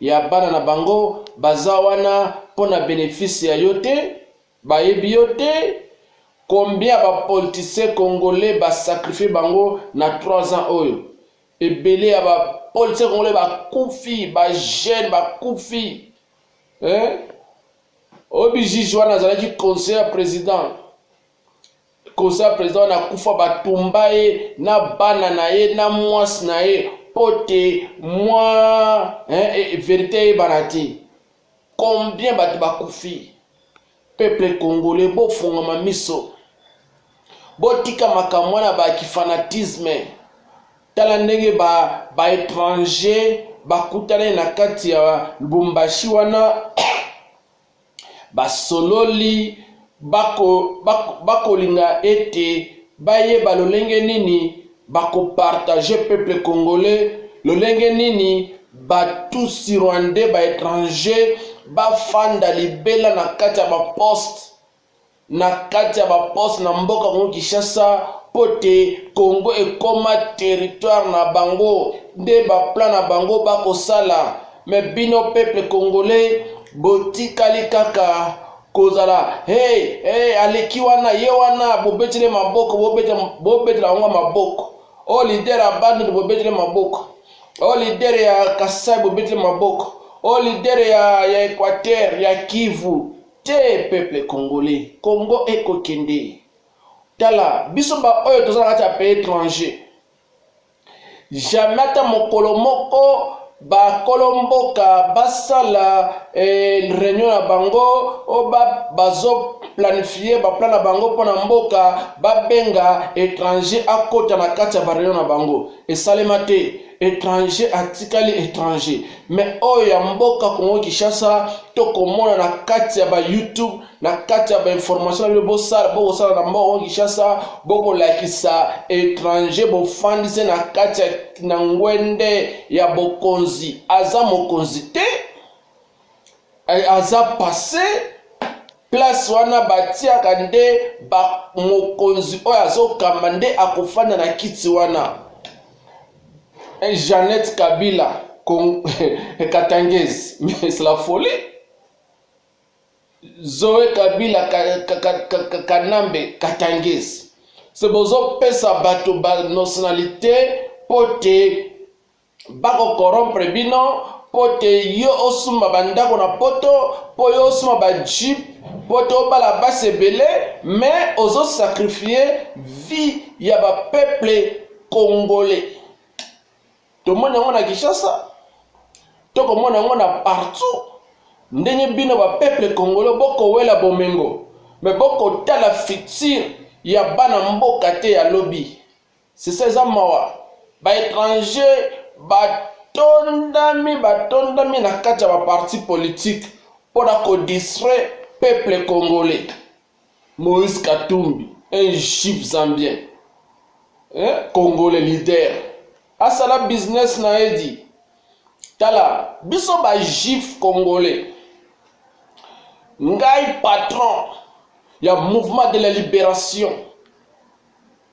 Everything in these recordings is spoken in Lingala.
ya bana na bango baza wana pona benefice ya yo te bayebi yo te combien ba politiciens congolais ba sacrifier bango na 3 ans oyo ebele ya ba politiciens congolais bakufi ba jeune bakufi eh? oyo bijiji wana azalaki conseiller ya president kosa president wana akufa batumba ye na bana na ye na mwasi na ye mpo te mwa eh, eh, verite eyebana te combien bato bakufi peuple congolais bofungama miso botika makambo wana bakifanatisme tala ndenge baétranger ba bakutanai na kati ya lubumbashi wana Basololi bako, bako, bakolinga ete bayeba lolenge nini bakopartage peuple congolais, lolenge nini batusi rwandais ba etranger bafanda libela na kati ya baposte na kati ya baposte na mboka Congo Kinshasa mpo te Congo ekoma territoire na bango nde baplan na bango bakosala me bino peuple congolais botikali kaka kozala hey, hey, aleki wana ye wana bobetele maboko bobetela bango maboko o oh, lider ya bandundu bobetele maboko o oh, lider ya kasai bobetele maboko o oh, lider ya, ya equateur ya kivu Te peuple congolais congo eko kende tala biso ba oyo toza na kati ya pays étranger jamais ata mokolo moko bakolo mboka basala eh, reunion na bango o bazoplanifie baplan na bango mpo na mboka babenga étranger akota na kati ya bareunion na bango esalema te étranger atikali étranger mais oyo ya mboka congo kinshasa tokomona na kati ya bayoutube na kati ya bainformation na bino bosala bokosala na mboka congo kinshasa bokolakisa étranger bofandise na kati ya na ngwende ya bokonzi aza mokonzi te eh, aza passe place wana batiaka nde mokonzi oyo azokamba nde akofanda na kiti wana eh, jeannette kabila katangese mais la folie zoe kabila kanambe katangese se bozopesa bato banationalité mpo te bako corrompre bino mpo te yo osumba bandako na poto mpo yo osumba bajeep mpo te obala basi ebele me ozosakrifie vie ya bapeuple congolais tomoni yango na kinshasa tokomona yango na partout ndenge bino bapeuple congolais bokowela bomengo me bokotala future ya bana mboka te ya lobi C'est ça eza mawa. Ba étrangers batondami batondami na kati ya ba partis politiques mpo na ko distraire peuple congolais. Moïse Katumbi, un juif zambien, eh, congolais leader, asala business na ye di tala biso ba juif congolais ngai patron ya mouvement de la libération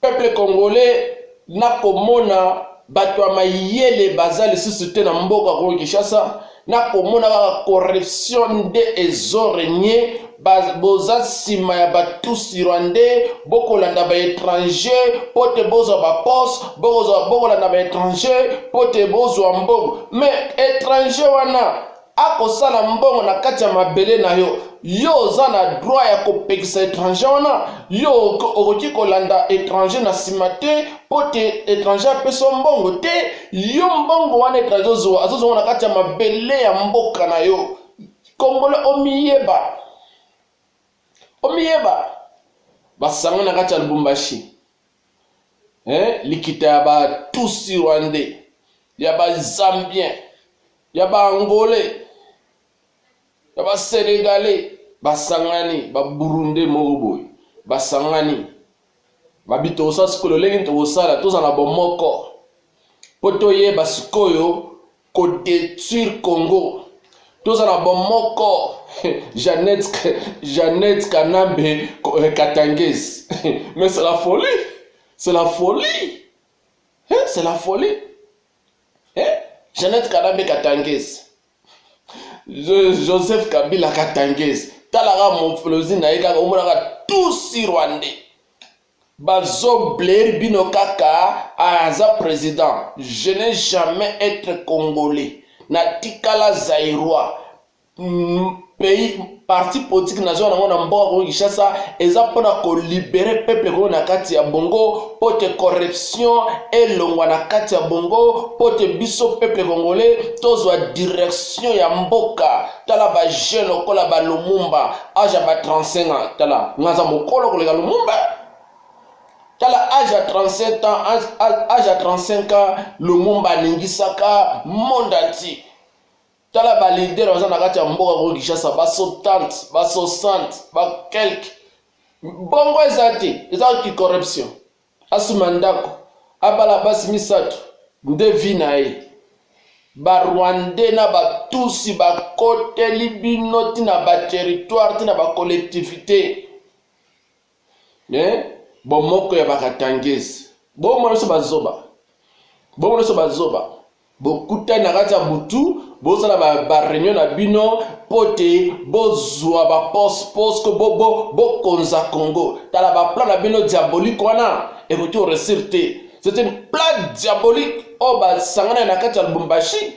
Peuple congolais na komona bato ya mayele baza lisusu te na mboka Congo Kinshasa na komona kaka corruption nde ezo regne boza nsima ya batusi rwandais bokolanda baétranger mpo te bozwa baposte bokolanda baétranger mpo te bozwa mbongo mais étranger wana akosala mbongo na kati ya mabele na yo yo oza na droit ya kopekisa étranger wana yo okoki kolanda étranger na nsima te mpo te étranger apesa yo mbongo te yo mbongo wana étranger ozwa azozwa na kati ya mabele ya mboka na yo kongole omiyeba omiyeba basango na kati ya lubumbashi eh, likita ya ba tusi rwandais ya ba zambien ya ba angolais ya ba senegalais basangani ba burundais moko boye basangani babi tokosala sikoyo lolenge tokosala tozala bomoko mpo toyeba sikoyo ko detruire congo toza na bomoko jeannette jeannette kanambe eh, katangese mais c'est la folie c'est la folie eh, c'est la folie eh? jeannette kanambe katangese joseph kabila katangese talaka mofolozi na ye kaka omonaka tusi rwandais Bazo blair bino kaka aza president je ne jamais etre congolais na tikala zairois pays parti politique nazo nango na mboka kongo kinshasa eza mpona kolibere peuple kongo na kati ya bongo mpo te corruption elongwa na kati ya bongo mpo te biso peuple congolais tozwa direction ya mboka tala ba jeune lokola ba lumumba age ya ba 35 ans tala nga aza mokolo koleka lumumba tala age ya 37 ans age ya 35 ans lumumba aningisaka monde entier tala ba leader baza na kati ya mboka ko kinshasa ba 70 ba 60 ba quelque bongo eza te eza kicorruption Asomba ndako, abala basi misato nde vie na ye. Ba rwandais na ba tusi ba koteli bino ti na ba territoire ti na ba collectivite eh? bomoko ya bakatangese bomona biso bazoba bomona biso bazoba bokutani na kati ya butu bosala bareunion ba na bino mpo te bozwa baposte posko bokonza bo, bo congo tala baplan na bino diabolique wana ekoki koresir te c'est une plan diabolique oyo oh, basangana na kati ya lubumbashi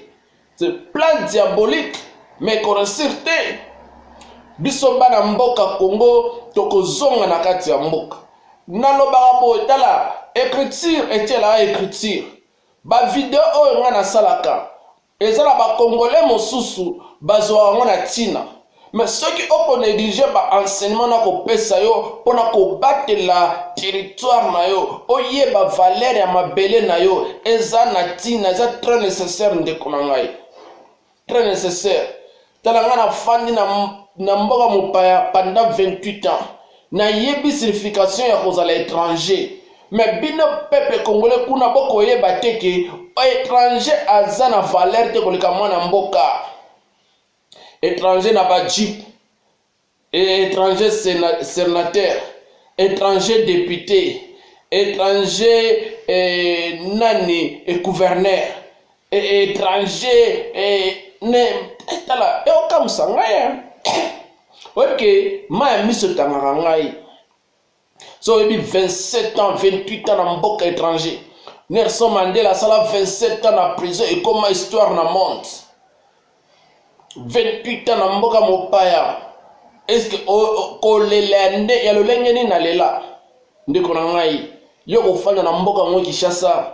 c'est plan diabolique mais ekoresir te biso bana mboka congo tokozonga na kati ya mboka nalobaka boye tala écriture etielaka écriture Ba video oyo nga nasalaka eza na ba congolais mosusu bazua yango na tina mais soki oko negliger ba enseignement nako pesa yo pona kobatela territoire na yo oyeba valeur ya mabele na yo eza na tina eza très necessaire ndeko na ngai. Très necessaire. Tala nga na fandi na, na mboka mopaya pendant 28 ans. Na yebi signification ya kozala étranger. Mais bino peuple congolais kuna bokoyeba te ke étranger aza na valeur te koleka mwana mboka. Étranger na ba jeep et etranger senateur etranger depute etranger eh, nani eh, gouverneur eh, etranger eh, ne eh, tala eokamwisa eh, ngai eh. oyebi ke mai ya miso etangaka ngai so oyebi 27 ans 28 ans na mboka étranger nelson mandela asala 27 ans na prison ekoma histoire na monde 28 ans na mboka mopaya eske kolela ya nde ya lolenge nini nalela ndeko na ngai yo kofanda na mboka yango kinshasa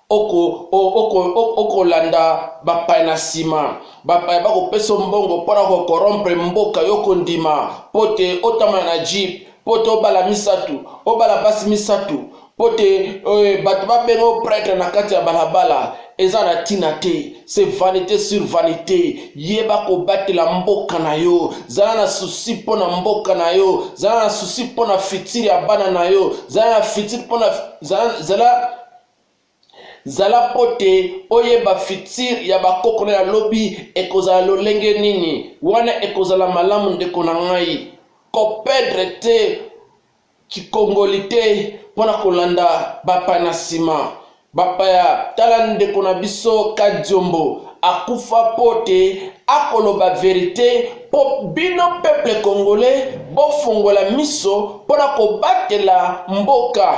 oko oko oko landa bapaya na nsima bapaya bakopesa mbongo mpo na kokorompre mboka yo kondima mpo te otambala na jeep mpo te obala misato obala basi misato mpo te euh, bato babenga o pretre na kati ya balabala eza na ntina te se vanité sur vanité yeba kobatela mboka na yo zala na susi mpo na mboka na yo zala na susi mpo na fitire ya bana na yo zala na fitire mpo na zala, zala Zala mpo te oyeba fitir ya bakoko na ya lobi ekozala lolenge nini. Wana ekozala malamu, ndeko na ngai. Kopedre te kikongoli te mpo na kolanda bapaya na nsima. Bapaya, tala ndeko na biso Kadiombo akufa mpo te akoloba verite mpo bino peuple congolais bofongola miso mpo na kobatela mboka.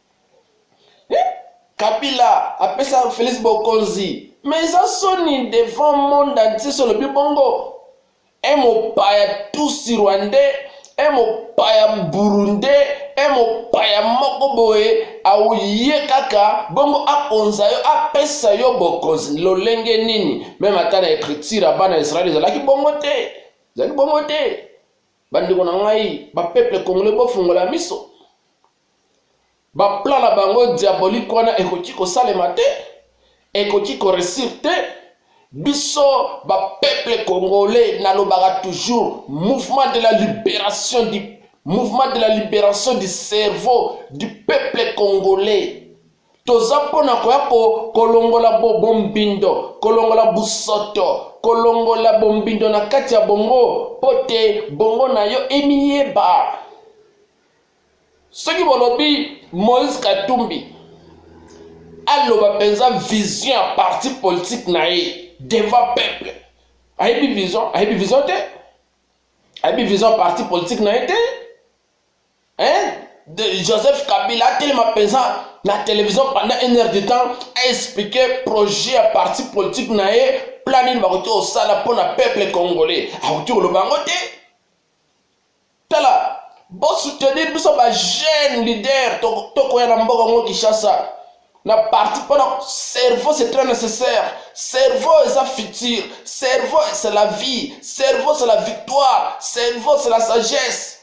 Kabila apesa Felix Bokonzi mais eza soni devant monde entier solobi bongo e mopaya tusi rwandais e mopaya burundais e mopaya moko boye auye kaka bongo akonza yo apesa yo bokonzi lolenge nini meme ata na ecriture ya bana israele ezalaki bongo te ezalaki bongo te bandeko na ngai bapeuple congolais bofungola miso baplan na bango diabolike wana ekoki kosalema te ekoki koresir te biso bapeuple congolais nalobaka toujours mouvement de la libération du mouvement de la libération du cerveau du peuple congolais toza mpo na koya kolongola bombindo kolongola busoto kolongola bombindo na kati ya bongo mpo te bongo na yo emiyeba soki bolobi moïse katumbi aloba mpenza vision ya parti politique na ye devant peuple ayebi vision ayebi vision te ayebi vision ya parti politique na ye te hein? de joseph kabila atelema mpenza na télévision pendant une heure de temps aexplike projet ya parti politique na ye plan nini bakoki kosala mpo na peuple congolais akoki koloba yango te tala bosoutenir biso ba jeune leader tokoya na mboka ngo kinshasa na parti mpona cerveau c'est très nécessaire cerveau eza futur cerveau c'est la vie cerveau c'est la victoire cerveau c'est la sagesse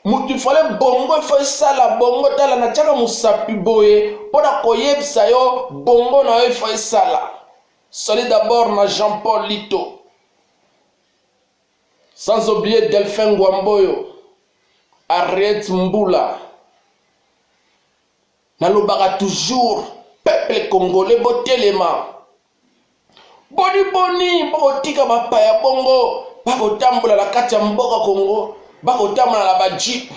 moto ifale bongo ifo esala bongo tala natyaka mosapi boye mpo na koyebisa yo bongo na yo ifo esala sali d'abord na jean paul lito Sans oublier Delphin Ngwamboyo, Harriet Mbula. Nalobaka toujours peuple congolais botelema. Boni boni bokotika bapaya bongo bakotambola na kati ya mboka Congo, bakotambola na ba jeep,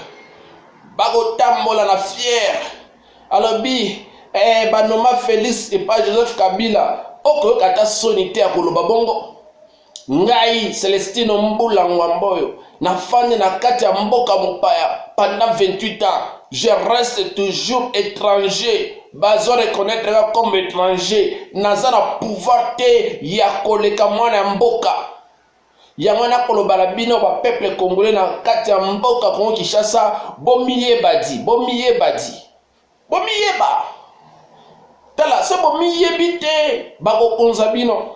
bakotambola na fière. Alobi eh, banoma Felix epa Joseph Kabila, okoyoka ata soni te ya koloba bongo. Ngai Celestino Mbula Ngwamboyo nafandi na kati ya mboka mopaya pendant 28 ans je reste toujours étranger bazo reconnaître nga comme étranger naza na pouvoir te ya koleka mwana ya mboka yango wana koloba na bino bapeuple congolais na kati ya mboka kongo kinshasa bomiyeba di bomiyeba di bomiyeba tala se bomiyebi te bakokonza bino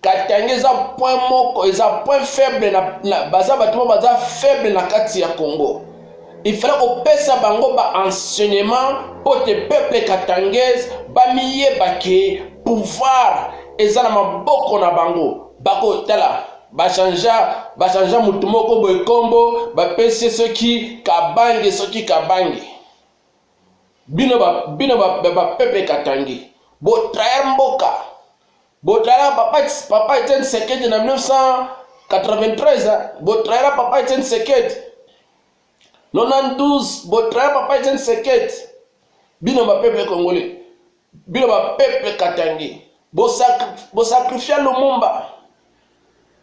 katanga eza point moko eza point faible na, na baza bato moko baza faible na kati ya congo il fallait kopesa bango baenseignement mpo te peuple katangese bamiyeba ke pouvoir eza na maboko na bango bakotala bachangea bachangea motu moko boye nkombo bapesi soki kabange soki kabange bino bapeuple ba, ba, ba, katangi botraire mboka Botala papa papa Etienne Tshisekedi na 1993, botala papa Etienne Tshisekedi 92, botala papa Etienne Tshisekedi. Bino ba peuple congolais, bino ba peuple katangais, bo sacrifia Lumumba.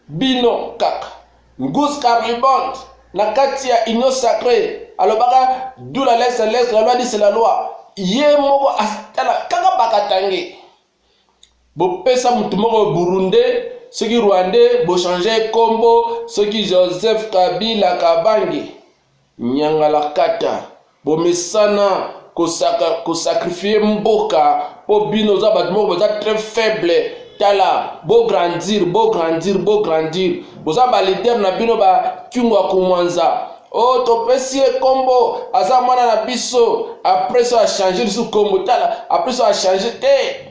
Bino kaka Gus Carlibond na kati ya Union Sacrée alobaka dula l'est l'est la loi dit c'est la loi. Ye moko atala kaka bakatange. bopesa motu moko burundais soki rwandais bochange kombo soki joseph kabila kabange nyangalakata bomesana kosakrifie mboka mpo bino oza bato moko boza très faible tala bograndir bograndir bograndir boza balider na bino bakyungwa kumwanza oh topesi ye nkombo aza mwana na biso apres so achange lisusu nkombo tala apres so achange te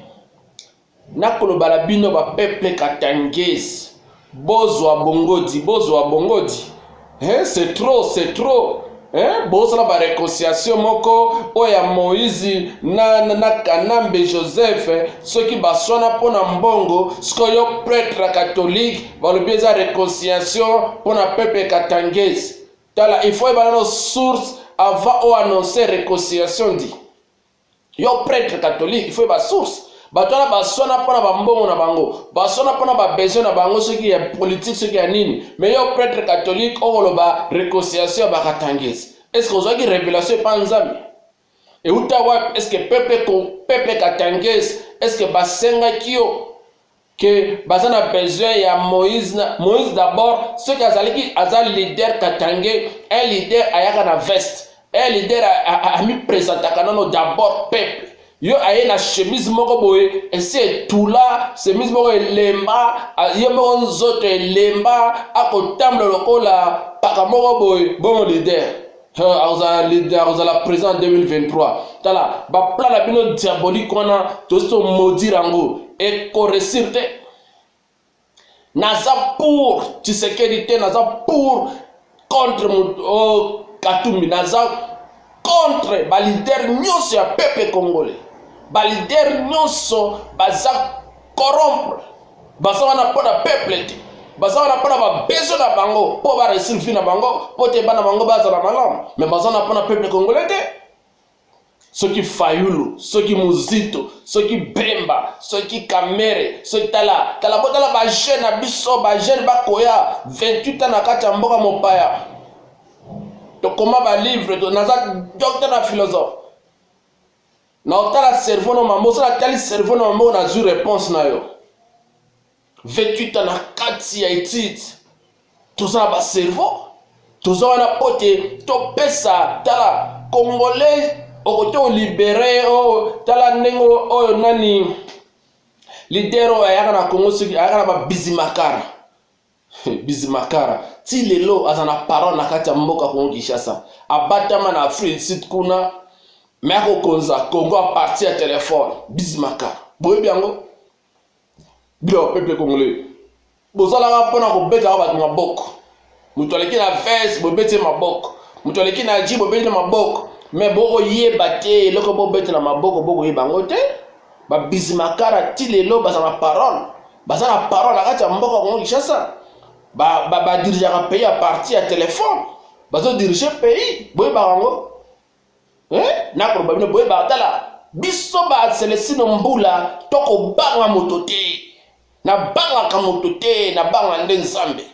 nakoloba na bino bapeple katangese bozwa bongodi bozwa bongodi hein, c'est trop c'est trop hein? bosala bareconciliation moko oyo ya moïse na, na, na kanambe joseph soki baswana mpo na mbongo sikoyo pretre catholique balobi eza reconciliation mpo na peuple katangese tala il faut ebala no source avant o annoncer reconciliation ndi yo prêtre catholique il faut eba source bato wana baswana mpo na bambongo na bango baswana mpo na babesoin na bango soki ya politike soki ya nini me yo prêtre catholique okoloba reconciliation ya bakatangese estce ozwaki révélation epa nzambe Euta wapi? Est-ce que peuple peuple katangais est-ce que basengaki yo que baza na besoin ya Moïse na Moïse d'abord soki azalaki aza leader katangais un leader ayaka na veste un leader amipresentaka nano d'abord peuple yo aye na chemise moko boye esi etula chemise moko elemba ye moko nzoto elemba akotambola lokola paka moko boye bongo leader akozala présent 2023 tala baplan na bino diabolique wana tosi tomodire yango ekoresir te naza pour tshisekedi te naza pour contre oh, katumbi naza contre balider nyonso ya peuple congolais balider nyonso baza corrompre baza wana mpo na peuple te baza wana mpo na babezo na bango mpo baresir vi na bango mpo te bana bango bazala malamu me baza wana mpo na peuple congolais te soki fayulu soki muzito soki bemba soki kamere soki tala tala botala bajeune na biso bajeune bakoya 28 ans na kati ya mboka mopaya tokoma balivre naza docteur na philosophe na otala cerveau no mambo osala tali cerveau no mambo nazwi réponse na yo 28 ans na kati ya étude toza na bacerveau toza wana mpo te topesa tala congolais okoki olibere o oh, tala ndenge oyo oh, oh, nani lidere oyo ayaka na congo soki ayaka na babizimakara Bizimakara ti lelo aza na parole na kati ya mboka Congo Kinshasa, abatama na Afrique du Sud kuna me akokonza Congo a partir ya telefone. Bizimakara boyebi yango bino bapeple congolais bozalaka mpona kobetaka bato maboko, moto aleki na vese bobeti ye maboko, moto aleki na ji bobeti na maboko, me bokoyeba te eloko bobetela maboko bokoyeba yango te. ba bizimakara ti lelo baza na parole baza na parole na kati ya mboka kongo kinshasa badirigeaka ba, ba pays ya parti ya telefone bazodirige pays boyebaka yango eh? nakoloba bino boyebaka tala biso baselesino mbula tokobanga moto te nabangaka moto te nabanga nde nzambe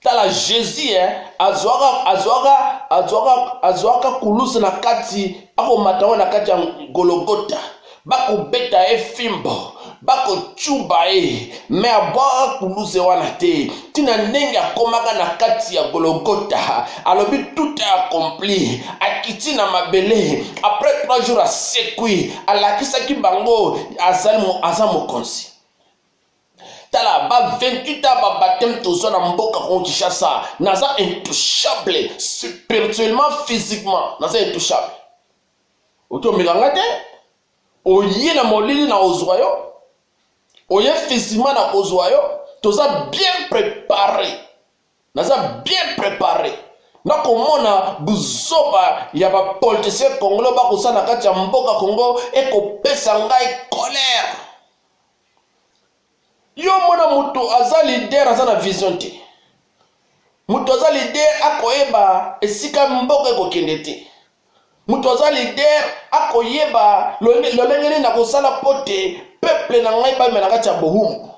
tala jesus eh, azwaka azwaka azwaka azwaka kulusu na kati akomata ngo na kati ya gologota bakobeta ye fimbo bakocuba ye me abwaka kuluse wana te ntina ndenge akomaka na kati ya gologota alobi tout est accompli akiti na mabele après trois jours asekwi alakisaki bango aza mokonzi tala ba 28 ans ba baptême toza na mboka kongo kinshasa naza intouchable spirituellement physiquement naza intouchable otomeka nga te oye na molili na ozwa yo oye physiquement na kozwa yo toza bien prépare naza bien prépare nakomona buzoba ya bapolitisien congolo bakosala na kati ya mboka kongo ekopesa ngai colère yo mona moto aza lider aza na vision te moto aza lider akoyeba esika mboka ekokende te moto aza lider akoyeba lolenge nini nakosala mpo te peple na ngai bamela kati ya bohumu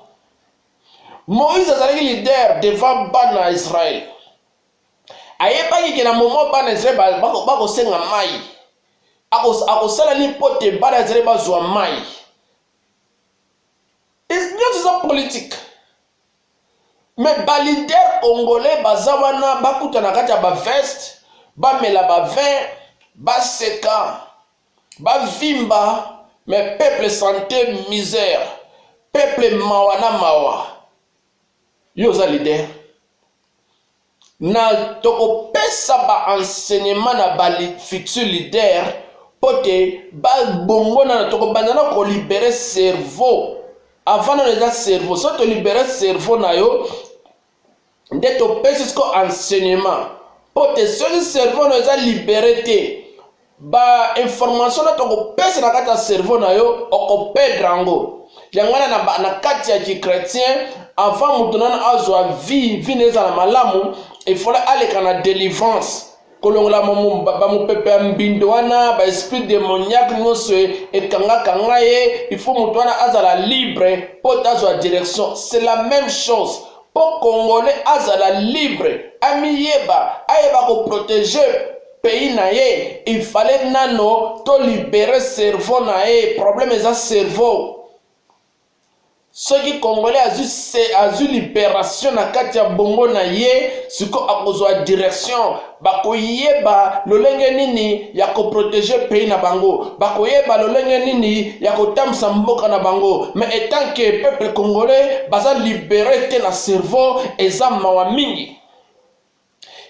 moïse azalaki lider devant bana ya israele ayebaki ke na momo bana ya israele bakosenga mai akosala nini mpo te bana ya israele bazwa mai nyonso eza politike me balider congolais baza wana bakuta na kati ya baveste bamela bavin baseka bavimba me peuple sante misère peuple mawa na mawa yo oza lider na tokopesa ba enseignement na ba futur leader mpo te babongona na tokobanda na kolibere cerveau avant nano eza cerveau so tolibere cerveau na yo nde topesi siko enseignement mpo te soki cerveau na eza libere te ba information na tokopesa na kati ya cerveau na yo okopedre yango yango wana na, na kati ya kichrétien avant moto nano azwa vie vie na ezala malamu efale aleka na délivrance kolongola bamopepe ya mbindo wana baesprit démoniaque nyonso e, ekangakanga ye ifo moto wana azala libre mpo tazwa direction c'est la même chose mpo congolais azala libre amiyeba ayeba koprotege pays na ye il fallait nano to libere cerveau na ye problème eza cerveau soki congolais azwi se azwi liberation na kati ya bongo na ye siko akozwa direction bakoyeba lolenge nini ya koprotege pays na bango bakoyeba lolenge nini ya kotambwisa mboka na bango mais etant que peuple congolais baza libere te na cerveau eza mawa mingi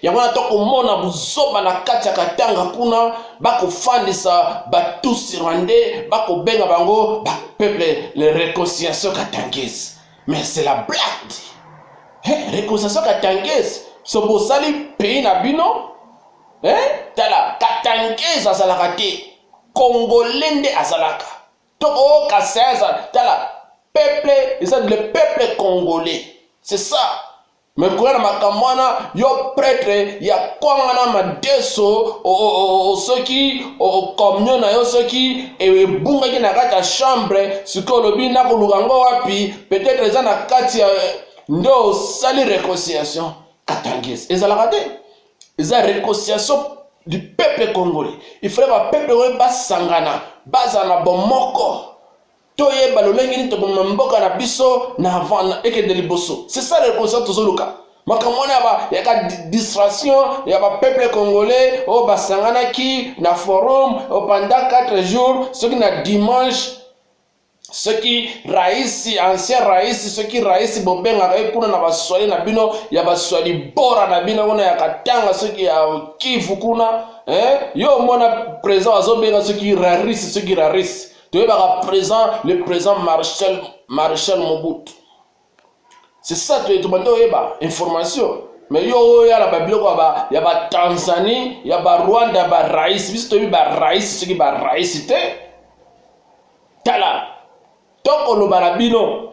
yango wana tokomona buzoba na kati ya katanga kuna bakofandisa batusi rwandais bakobenga bango bapeuple le réconciliation katangese mais c'est la blague hey, réconciliation katangese so bosali pays na bino hey, tala katangese azalaka te congolais nde azalaka to o kasai azala tala peuple eza le peuple congolais c'est ça me koya na makambo wana yo pretre ya kwanga na madeso soki communion na yo soki ebungaki na kati ya chambre sikoyo olobi nakoluka ngo wapi peut-être eza na kati ya nde osali reconciliation katangese ezalaka te eza reconciliation du peuple congolais il fallait ba peuple oyo basangana bazala na bomoko toyeba lolenge nini toboma mboka na biso na avant ekende liboso c'est ça le constat tozoluka makambo wana ya ka distraction ya bapeuple congolais oyo basanganaki na forum pendant 4 jours soki na dimanche soki raisi ancien raisi soki raisi bobengaka ye kuna na baswali na bino ya baswali bora na bino kuna ya katanga soki ya kivu kuna eh? yo omona président azobenga soki rarisi soki rarisi toyebaka présent le présent marshal marshal mobutu c'est ça toye tobandi oyeba information mais yo oya na babiloko ya batanzanie ya barwanda ya barais biso toyebi barais soki barais te tala tokoloba na bino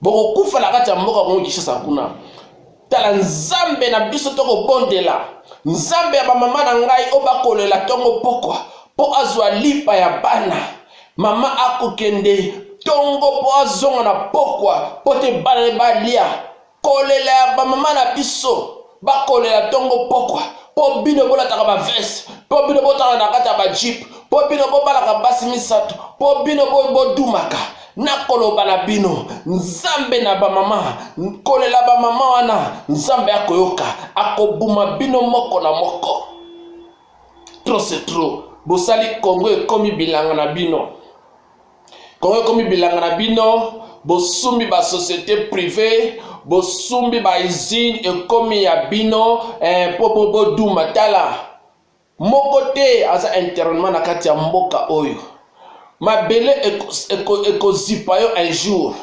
bokokufa na kati ya mboka kongo kinshasa kuna tala nzambe na biso tokobondela nzambe ya bamama na ngai oyo bakolela ntongo pokwa mpo azwa lipa ya bana mama akokende ntongo mpo azonga na pokwa mpo te bana balia kolela ya bamama na biso bakolela ntongo mpokwa mpo bino bolataka baveste mpo bino botala na kati ya bajipe mpo bino bobalaka basi misato mpo bino bodumaka nakoloba na bino nzambe na bamama kolela bamama wana nzambe akoyoka akobuma bino moko na moko trop se trop bosali kongo ekomi bilanga na bino Congo ekomi bilanga na bino, bosumbi ba societe privee bosumbi ba usine ekomi ya bino eh, po boboduma tala moko te aza internellement na kati ya mboka oyo mabele ekozipa yo un jour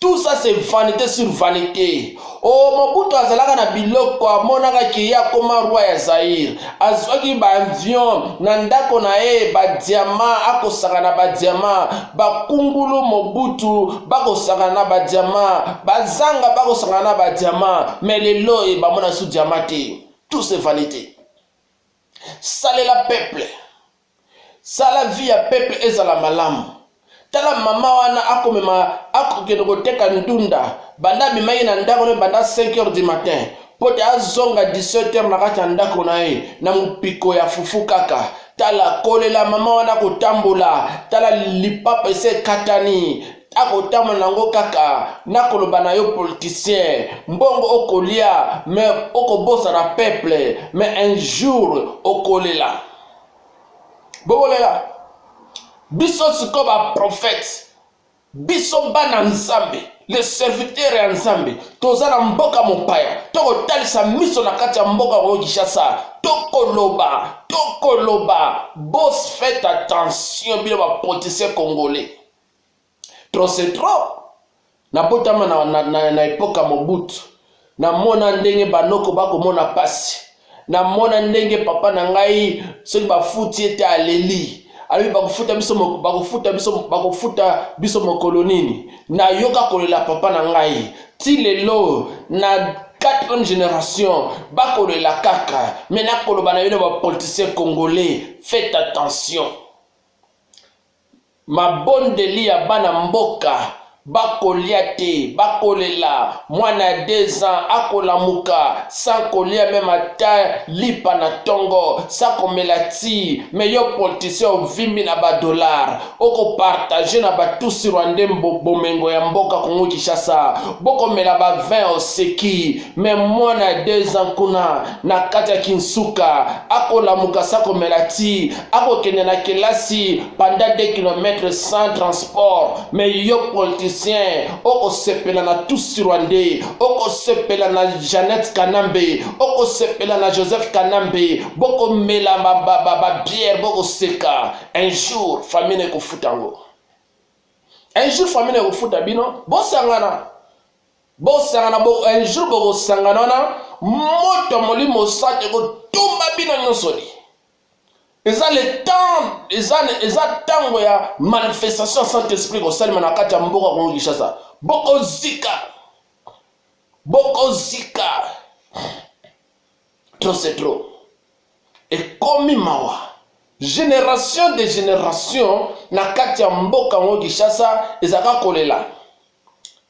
Tout ça c'est vanité sur vanité. Oh, Mobutu azalaka na biloko amonaka ke ye akoma roi ya Zaire. Azwaki ba avion na ndako na ye ba diamant akosaka na ba diamant. Bakungulu Mobutu bakosaka na ba diamant. Bazanga bakosaka na ba diamant. Mais lelo e bamona su diamant te. Tout c'est vanité. Salela peuple. Sala vie ya peuple ezala malamu. Tala maman wana akomema akokende koteka ndunda banda amema ye na ndako ne banda 5 heures du matin mpo te azonga 17 heures na kati ya ndako na ye na mopiko ya fufu kaka tala kolela mama wana kotambola tala lipapa ese ekatani akotambola nango kaka nakoloba na yo politicien mbongo okolia me okobosana peuple me un jour okolela bokolela biso sikoyo baprofete biso bana nzambe le serviteur ya nzambe toza na mboka mopaya tokotalisa miso na kati ya mboka oyo kinshasa tokoloba tokoloba bos faites attention bino bapoliticien congolais trop c'est trop nabotama na, na, na, na epoka mobutu namona ndenge banoko bakomona pasi namona ndenge papa na ngai soki bafuti ete aleli alobi bakofuta biso bakofuta biso bakofuta biso mokolo nini nayoka kolela papa na ngai ti lelo na quatrième génération bakolela kaka me nakoloba na bino bapoliticien congolais faites attention Mabondeli ya bana mboka bakolia te bakolela mwana ya deux ans akolamuka sans kolia meme ata lipa na tongo sans komela ti mais yo politicien ovimbi na ba dollars oko partage na ba tusi rwandais mbo bomengo ya mboka kongo kishasa bokomela ba vin oseki mais mwana ya deux ans kuna na kati ya kinsuka akolamuka sa komela ti akokende na kelasi panda 2 km sans transport me yo politicien okosepela na tusi rwandais okosepela na janete kanambe okosepela na joseph kanambe bokomela babiere bokoseka un jour famine ekofuta yango un jour famine ekofuta bino bosangana bosangana bo, un jour bokosangana wana moto ya molimo santo ekotumba bino nyonso li eza le temps eza eza ntango ya manifestation ya saint esprit kosalema na kati ya mboka kongo kinshasa bokozika bokozika trop c'est trop ekomi mawa génération de génération na kati ya mboka yango kinshasa ezalaka kolela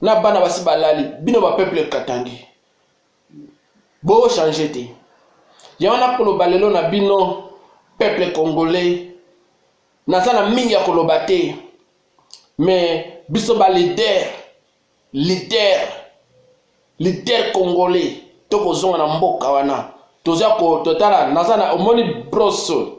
na bana basi balali bino ba peuple katangi bo change te yango nakoloba lelo na bino peuple congolais naza na mingi ya koloba te me biso ba leader leader leader congolais tokozonga na mboka wana toza kototala naza na omoni broso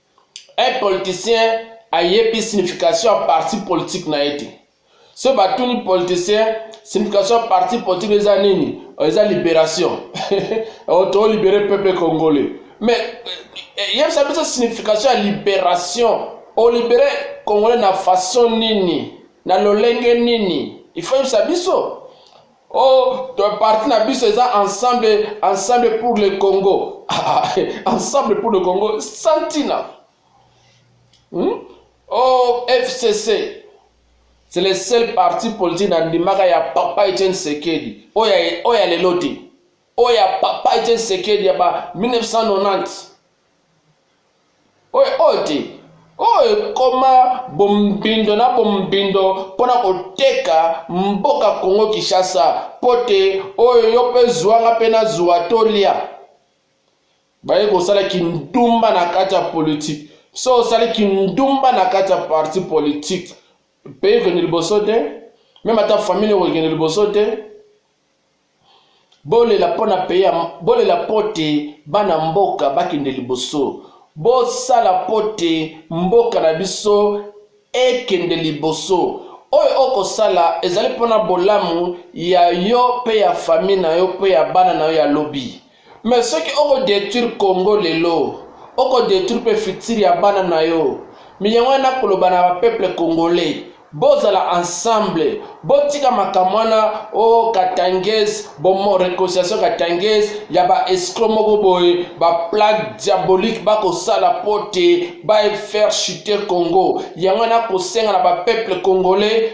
Un politicien ayebi signification ya parti politique na ye te. So batuni politicien signification ya parti politique eza nini? Eza liberation. Oh, to libere peuple congolais. Mais eh, yebisa biso signification ya liberation. O libere congolais na façon nini? Na lolenge nini? Il faut yebisa biso. Oh, ton parti na biso eza ensemble, ensemble pour le Congo. Ah, ah, ensemble pour le Congo, Santina. Hmm? Oh, FCC. C'est le seul parti politique na ndimaka ya papa Etienne Sekedi. Oya, oya lelo te. Oya papa Etienne Sekedi ya ba 1990. oyo oyo te oyo ekoma bombindo na bombindo mpo na koteka mboka kongo kinshasa mpo te oyo yo mpe zwanga mpe nazwa tolya baye kosala kindumba na kati ya politike so osali kindumba na kati ya parti politike mpe ekende liboso te meme ata famille ekokende liboso te bolela mpo na peye bolela mpo te bana mboka bakende liboso bosala mpo te mboka na biso ekende liboso oyo okosala ezali mpo na bolamu ya yo mpe ya fami na yo mpe ya bana na yo ya lobi Mais soki oko detruire Congo lelo, oko detruire pe futur ya bana na yo. Mais yango wana nako loba na ba peuple congolais, bo zala ensemble, bo tika makambo wana oh katangais, bo reconciliation katangais ya ba escrocs moko boye, ba plan diabolique bako sala po te ba faire chuter Congo. Yango wana nako senga na ba peuple congolais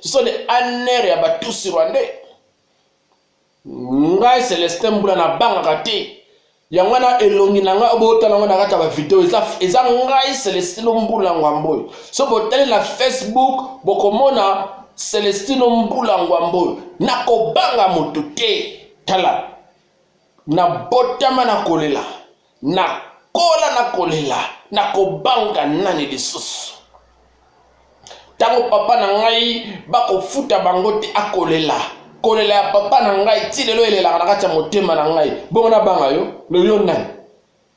ce sont des anr ya batusi rwandais ngai celestin mbula nabangaka te yango wana elongi na ngai botala yango na kati ya bavideo eza, eza ngai celestino mbula ngwambo oyo so botali na facebook bokomona celestino mbula ngwambo oyo nakobanga moto te tala nabotama na kolela nakola na kolela na kobanga nani lisusu ntango papa na ngai bakofuta bango te akolela kolela ya papa na ngai ti lelo elelaka na kati ya motema na ngai bongo nabanga yo loyo nani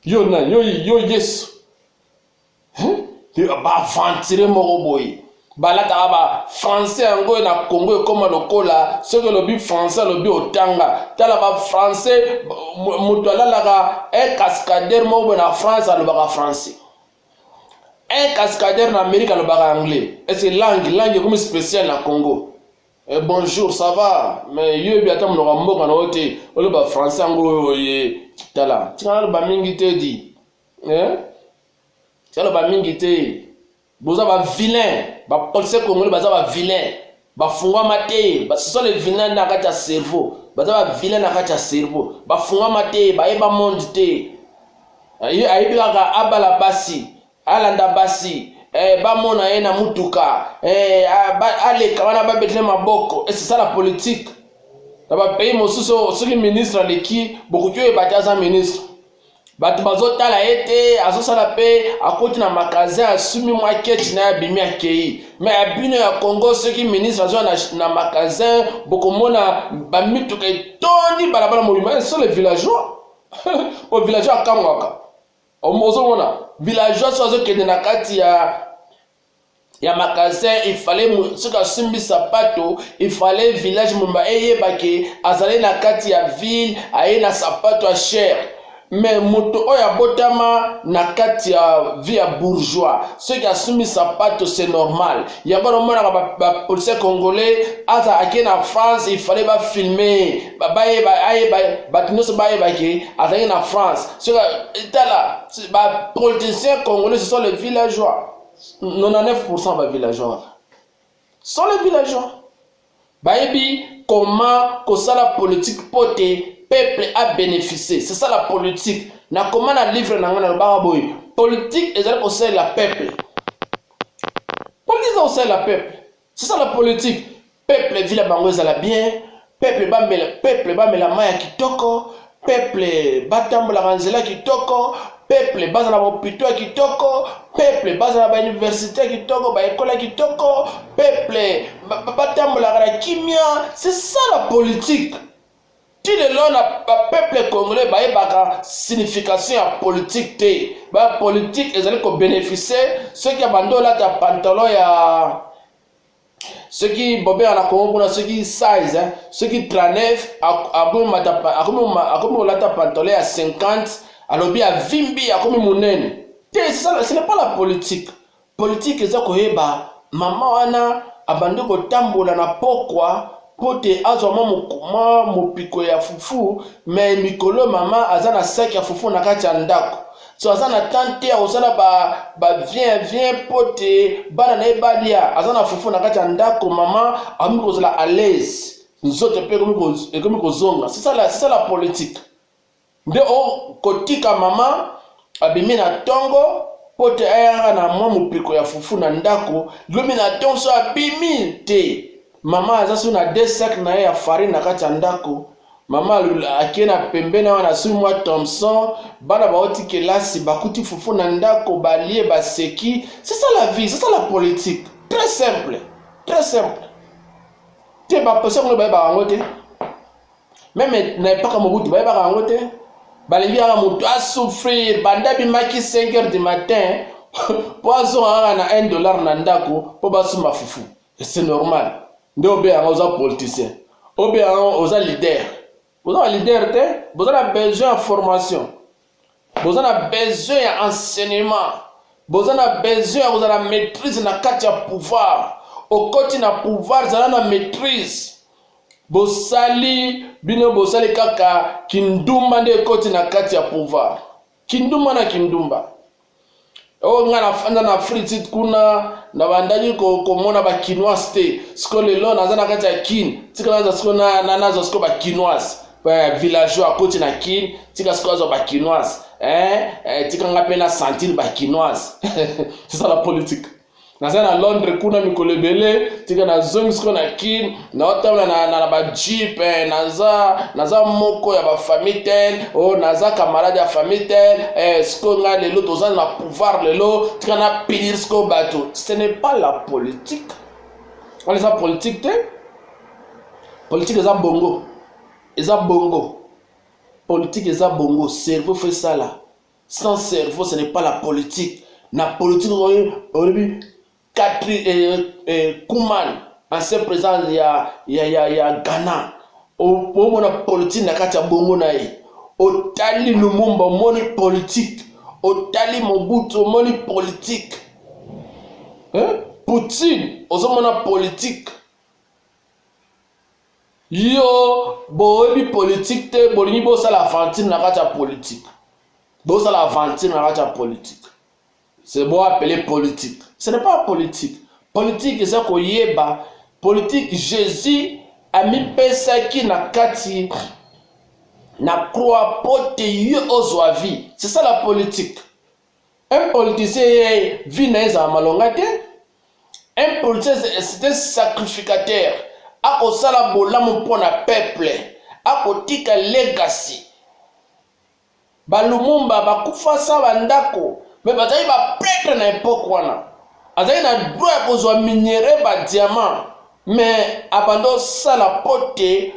yo nani yo, yo yesu baaventire moko boye balataka ba français yango na congo ekóma lokola soki olobi français alobi otanga tala ba français moto alalaka un cascadere moko boye na france alobaka français un cascadere na amérique alobaka anglais ese langue langue ekomi spécial na congo Eh, bonjour ça va mais yo yebi ata monoko ya mboka na yo te oloba français yango oyo oye tala tika naloba mingi te di eh? toloba mingi te boza ba vilain ba policier congolais baza ba vilain bafungwama te ce sont les vilain na kati ya cerveau baza ba vilain na kati ya cerveau bafungwama te bayeba monde te ayebi kaka abala basi alanda basi eh, bamona ye na mutuka eh, aleka wana babetele maboko esesala eh, politike na bapays mosusu soki ministre aleki bokoki oyeba te aza ministre bato bazotala ye te azosala mpe akoti na magasin asumi mwa kechi na ye abimi akei me ya bino ya congo soki ministre azwa na, na magasin bokomona bamituka etondi balabala mobima eh, sole villageois po villageois akangwaka ozomona villageois so azokende na kati ya ya magasin il fallait soki asimbi sapato il fallait village mumba eyeba ke azali na kati ya ville aye na sapato ya cher me moto oyo abotama na kati ya vie ya bourgeois soki asumbi sapato se normal yango namonaka bapolisie ba congolais aza ake na france ifale bafilme bato nyonso bayebake azalaki na france soki tala bapoliticien congolais ce sont le villageois 99% ba villageois sont les villageois bayebi comment kosala politique po te peuple a bénéficier c'est ça la politique nakoma na livre na ngai nalobaka boye politique ezali kosalela peuple politique eza kosalela peuple c'est ça la politique peuple vila bango ezala bien peuple bamela peuple bamela mai ya kitoko peuple batambolaka nzela kitoko peuple baza na bopito ya kitoko peuple baza na bauniversité ya kitoko baekole ya kitoko peuple batambolaka na kimia c'est ça la politique ti lelo na bapeuple congolais bayebaka signification ya politike te ba politike ezali kobeneficie soki abandi olata pantalon ya soki bobea na kongo kuna soki 16 hein, soki 39 akomi kolata pantalon ya 50 alobi avimbi akomi monene te ce n'est pas la politique Politique eza koyeba mama wana abandi kotambola na pokwa mpo te azwa mwa mopiko ya fufu me mikolo mama aza na saki ya fufu na kati ya ndako so aza na temps te akosala bavien vien mpo te bana na ye balia aza na fufu na kati ya ndako mama akomi kozala alaise nzoto mpe ekomi kozonga sisala sisala politike Nde o kotika mama abimi na tongo po te ayanga na mwa mopeko ya fufu na ndako, lobi na tongo so abimi te, mama aza so na deux sacs na ye ya farine na kati ya ndako, mama akie na pembeni wana asui mwa Thomson, bana bauti kelasi bakuti fufu na ndako balie baseki, c'est ça la vie, c'est ça la politique. Très simple, très simple. Te ba posa ngo ba ba ngo te. meme na epaka mobutu bayebaka yango te balingi kaka motu asouffrir banda bimaki 5 heures du matin mpo azonga kaka na 1 dollar na ndako mpo basomba fufu c'est normal nde obe yango oza politicien obe yango oza leader boza ba leader te boza na besoin ya formation boza na besoin ya enseignement boza na besoin ya kozala maîtrise na kati ya pouvoir okoti na pouvoir zala na maîtrise bosali bino bosali kaka kindumba nde ekoti na kati ya pouvoir kindumba na kindumba oyo ngai nafanda na fritit kuna nabandaki komona bakinoise te sikoyo lelo naza na kati ya kin tika naza sikoyo nazwa sikoyo bakinoise eh, villageois akoti na kin tika sikoyo azwa bakinoise eh, eh, tika ngai mpe na sentir bakinoise c'est ça la politique naza na londres kuna mikolo ebele tika nazongi siko na kin naotambola na, na, na bajeep eh, naza naza moko ya bafamille tel o oh, naza camarade ya famille tel eh, siko ngai lelo toza na pouvoir lelo tika na pinir siko bato ce n'est pas la politique wana eza politique te politique eza bongo eza bongo politique eza bongo cerveau fo esala Sans cerveau, ce n'est pas la politique. Na politique, aujourd'hui, Katri euh, euh, Kuman, ancien président il y a, il y a, il y a, il y a Ghana, au moment la politique na katia bongo na ye. Otali Lumumba, omoni politique. Otali Mobutu, omoni politique. Hein? Poutine, ozomona politique. Yo boyebi politique te bolingi bosala aventure na kati ya politique bosala aventure na kati ya politique c'est bon appeler politique ce n'est pas politique politique eza koyeba politique Jésus amipesaki na kati na croix mpo te yo ozwa vie c'est ça la politique Un politicien ye vie na ye ezala malonga te. Un politicien c'est un sacrificateur. Akosala bolamu mpo na peuple. Akotika legacy. Ba Lumumba bakufa sa ba ndako mais bazali ba pretre na epoque wana. Azali na droit ya kozwa minerais ba diamant mais abanda osala mpo te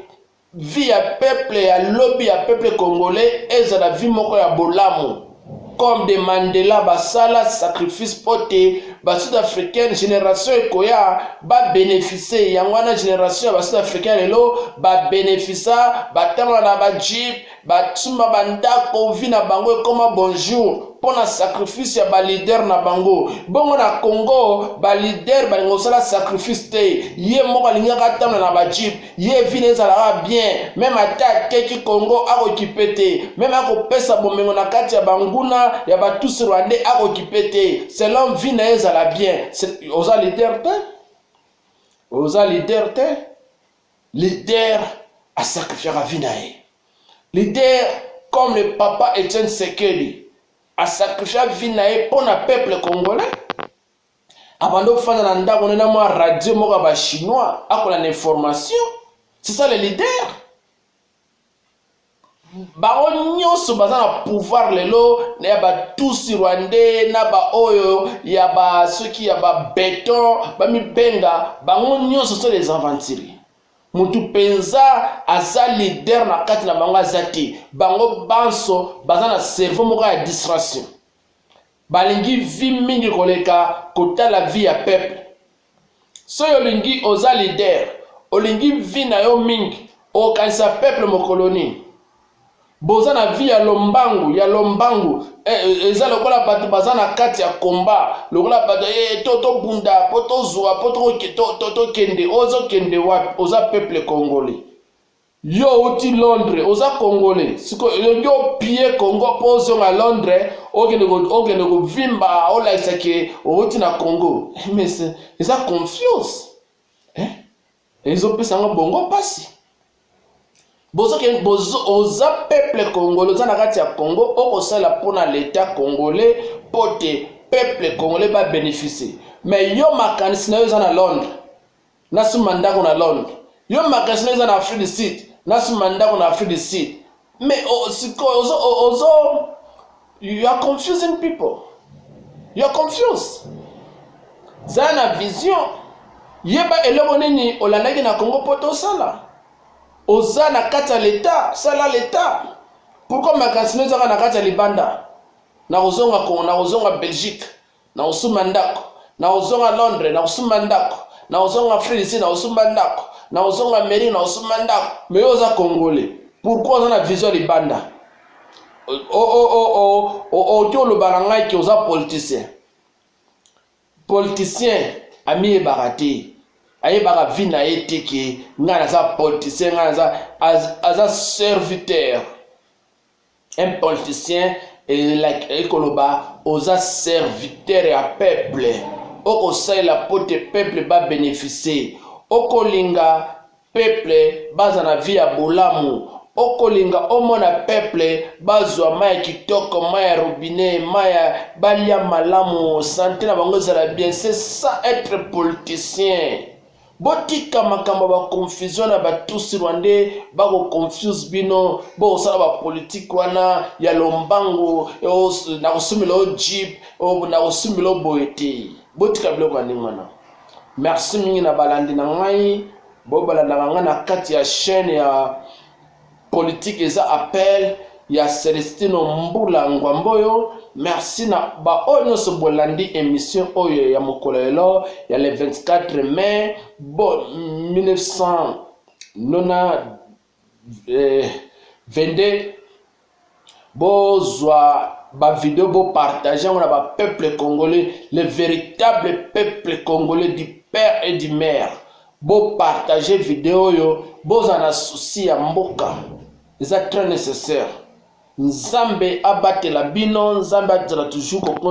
vie ya peuple ya lobi ya peuple congolais ezala vie moko ya bolamu comme de mandela basala sacrifice mpo te basud africaine génération ekoya babeneficie yango wana génération ya basud africain lelo babenefisa batanga na bajip basumba bandako vi na bango ekoma bonjour mpo na sacrifice ya balider na bango bongo na congo balider balingi kosala sacrifice te ye moko alingaka atanga na bajip ye vina ezalaka bien meme ata ateki congo akokipe te meme akopesa bomengo na kati ya banguna ya batusi rwandais akokipe te selon vi na ye ezala bien oza lider te oza lider te lider asacrifiaka vi na ye lider comme le papa etienne sekeli asacrifia vi na ye mpo na peuple congolais abanda kofanda na ndako nde na mwa radio moko ya bachinois akolanda information c'est ça le leader bango nyonso baza na pouvoir lelo ya batusi rwandais na baoyo ya basoki ya babeton bamibenga bango nyonso so les aventuriers motu mpenza aza leader na kati na bango aza te bango banso baza na cerveau moko ya distraction Balingi vie mingi koleka kotala vie ya peuple. Soki olingi oza leader, olingi vie na yo mingi, okokanisa peuple mokolo nini? boza na vie ya lombangu ya lombangu e, e, eza lokola bato baza na kati ya komba lokola bato e, to tobunda mpo tozwa mpo tokende ozokende wapi oza peuple congolais Yo outi Londres, oza congolais. Siko yo yo pie Congo po ozonga Londres, okende ko okende ko vimba, olakisa ke outi na Congo. Eh, mais eza confiance. Eh? Ezo pesa ngo bongo pasi. Bozo ke bozo oza peuple congolais, oza na kati ya Congo, okosala pona l'etat congolais pote peuple congolais ba bénéficier. Mais yo makanisi na yo eza na Londres. Nasomba ndako na Londres. Yo magasin eza na Afrique du Sud. Nasomba ndako na Afrique du Sud. Mais oh, sikoyo ozo oh, ozo you are confusing people. You are confused. Zala na vision. Yeba eloko nini olandaki na Congo poto osala. Oza na kati ya l'État, sala l'État. Pourquoi magasin ezaka na kati ya libanda? Na kozonga Congo, na kozonga Belgique. Nakosumba ndako, nakozonga Londres, nakosumba ndako, nakozonga Afrique du Sud, nakosumba ndako, nakozonga Amerique, nakosumba ndako. Mais yo oza Congolais, pourquoi oza na vision libanda? oki oloba na ngai ke oza politicien politicien amiyebaka te ayebaka vi na ye te ke ngai naza politicien ngai naza aza serviteur un politicien ekoloba oza serviteur ya peuple okosalela mpo te peuple babeneficie okolinga peuple baza na vie ya bolamu okolinga omona peuple bazwa mai ya kitoko mai ya robinet mai ya balia malamu sante na bango ezala bien c'est ça être politicien botika makambo ba confusion na batusi rwandais bako confuse bino bokosala bapolitike wana ya lombango nakosumbela o jeep nakosumbela o boye te botika biloko ya ndenge wana merci mingi na balandi na ngai bobalandaka ngai na kati ya chaîne ya politique eza appel ya Celestino Mbula Ngwamboyo merci na baoyo nyonso bolandi émission oyo ya mokolo lelo ya le 24 mai bo 1900 nona eh, 22 bozwa bavideo bopartage yango na bapeuple congolais le véritable peuple congolais du père et du mère bopartage video oyo bozala na susi ya mboka eza très nécessaire nzambe abatela bino nzambe azala toujours